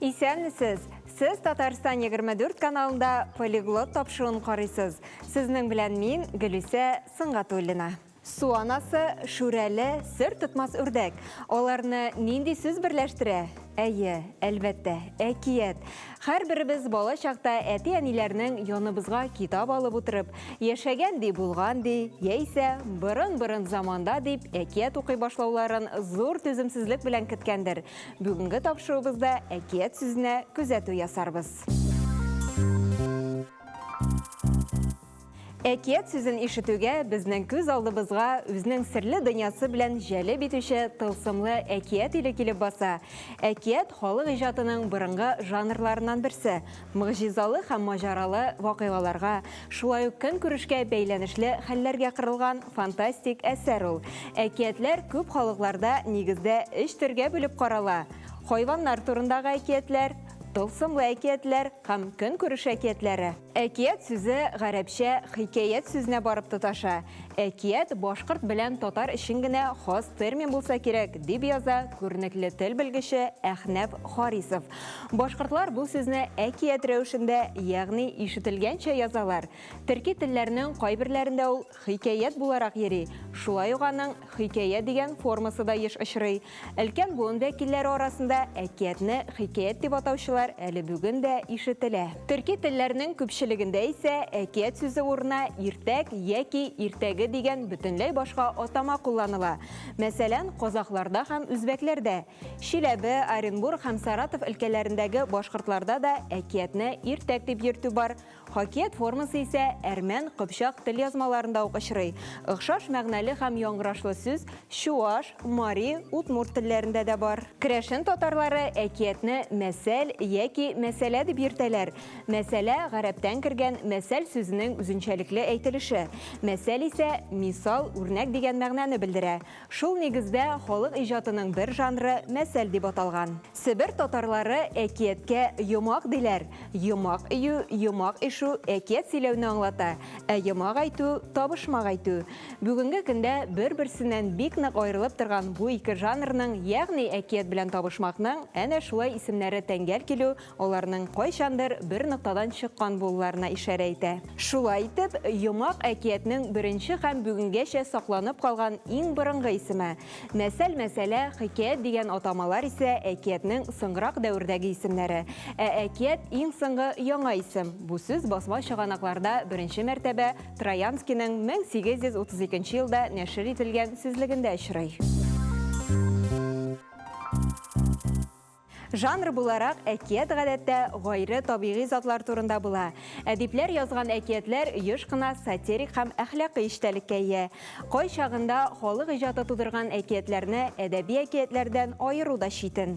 Исәнмесез! Сез Татарстан 24 каналында полиглот тапшыруын карыйсыз. Сезнең белән мин, Гөлүсә Сынгатуллина. Су анасы, Шүрәле, сер тотмас үрдәк. Аларны нинди сүз берләштерә? Әйе, әлбәттә, әкият. Һәрберебез бала чакта әти-әниләрнең яныбызга китап алып утырып, яшәгән ди, булган ди, яисә борын-борын заманда дип әкият укый башлауларын зур түземсезлек белән көткәндер. Бүгенге тапшыруыбызда әкият сүзенә күзәтү ясарбыз. Әкият сүзен ишетүгә, безнең күз алдыбызга үзенең серле дөньясы белән җәлеп итүче тылсымлы әкият иле килеп баса. Әкият халык иҗатының борынгы жанрларыннан берсе. Могҗизалы һәм маҗаралы вакыйгаларга, шулай ук көнкүрешкә бәйләнешле хәлләргә корылган фантастик әсәр ул. Әкиятләр күп халыкларда нигездә өч төргә бүлеп карала, хайваннар турындагы әкиятләр, тылсымлы әкиятләр һәм көнкүреш әкиятләре. Әкият сүзе гарәпчә хикәят сүзенә барып тоташа. Әкият башкорт белән татар өчен генә хас термин булса кирәк, дип яза күренекле тел белгече Әхнәф Харисов. Башкортлар бу сүзне әкият рәвешендә, ягъни ишетелгәнчә язалар. Төрки телләрнең кайберләрендә ул Хикәят буларак йөри, шулай ук аның хикәя дигән формасы да еш очрый. Өлкән буын вәкилләре арасында әкиятне хикәят дип атаучылар әле бүген дә ишетелә. Төрки телләрнең күпчелегендә исә әкият сүзе урынына иртәк яки иртәге дигән бөтенләй башка атама кулланыла. Мәсәлән, казакъларда һәм үзбәкләрдә. Чиләбе, Оренбург һәм Саратов өлкәләрендәге башкортларда да әкиятне иртәк дип йөртү бар. Хакият формасы исә әрмән, кыпчак тел язмаларында ук очрый. Охшаш мәгънәле һәм яңгырашлы сүз чуаш, мари, удмурт телләрендә дә бар. Керәшен татарлары әкиятне мәсәл яки мәсьәлә дип йөртәләр. Мәсьәлә, гарәптән кергән мәсәл сүзенең үзенчәлекле әйтелеше. Мәсәл исә, мисал, үрнәк дигән мәгънәне белдерә. Шул нигездә халык иҗатының бер жанры мәсәл дип аталган. Себер татарлары әкияткә йомак диләр, йомак өю, йомак ишү әкият сөйләүне аңлата, ә йомак әйтү, табышмак әйтү. Бүгенге көндә бер-берсеннән бик нык аерылып торган бу ике жанрның, ягъни әкият белән табышмакның әнә шулай исемнәре тәңгәл килү Аларның кайчандыр бер ноктадан чыккан булуларына ишарә итә. Шулай итеп, Йомак әкиятнең беренче һәм бүгенгәчә сакланып калган иң борынгы исеме. Нәсәл, мәсәлә, Хикәят дигән атамалар исә әкиятнең соңгырак дәвердәге исемнәре. Ә әкият, иң соңгы яңа исем. Бу сүз басма чыганакларда беренче мәртәбә Троянскийның 1832 елда нәшер ителгән сүзлегендә очрый. Жанр буларак әкият гадәттә гайре табигый затлар турында була. Әдипләр язган әкиятләр еш кына сатирик һәм әхлакый эчтәлеккә ия. Кай чагында халык иҗаты тудырган әкиятләрне әдәби әкиятләрдән аеру да читен.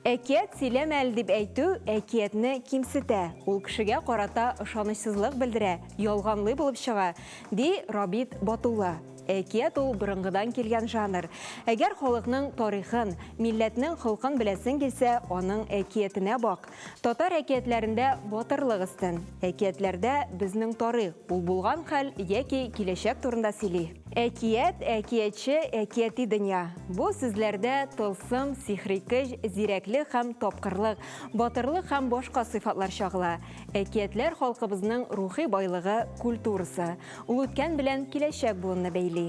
Әкият сөйләмә әле дип әйтү әкиятне кимсетә, ул кешегә карата ышанычсызлык белдерә, ялганлый булып чыга, ди Рабит Батулла. Әкият ул борынгыдан килгән жанр. Әгәр халыкның тарихын, милләтнең холкын беләсең килсә, аның әкиятенә бак. Татар әкиятләрендә батырлык өстен. Әкиятләрдә безнең тарих, ул булган хәл яки киләчәк турында сөйли. Әкият, әкиятче, әкияти дөнья. Бу сүзләрдә тылсым, сихри көч, зирәклек һәм тапкырлык, батырлык һәм башка сыйфатлар чагыла. Әкиятләр халкыбызның рухи байлыгы, культурасы. Ул үткән белән киләчәк буынны бәйли.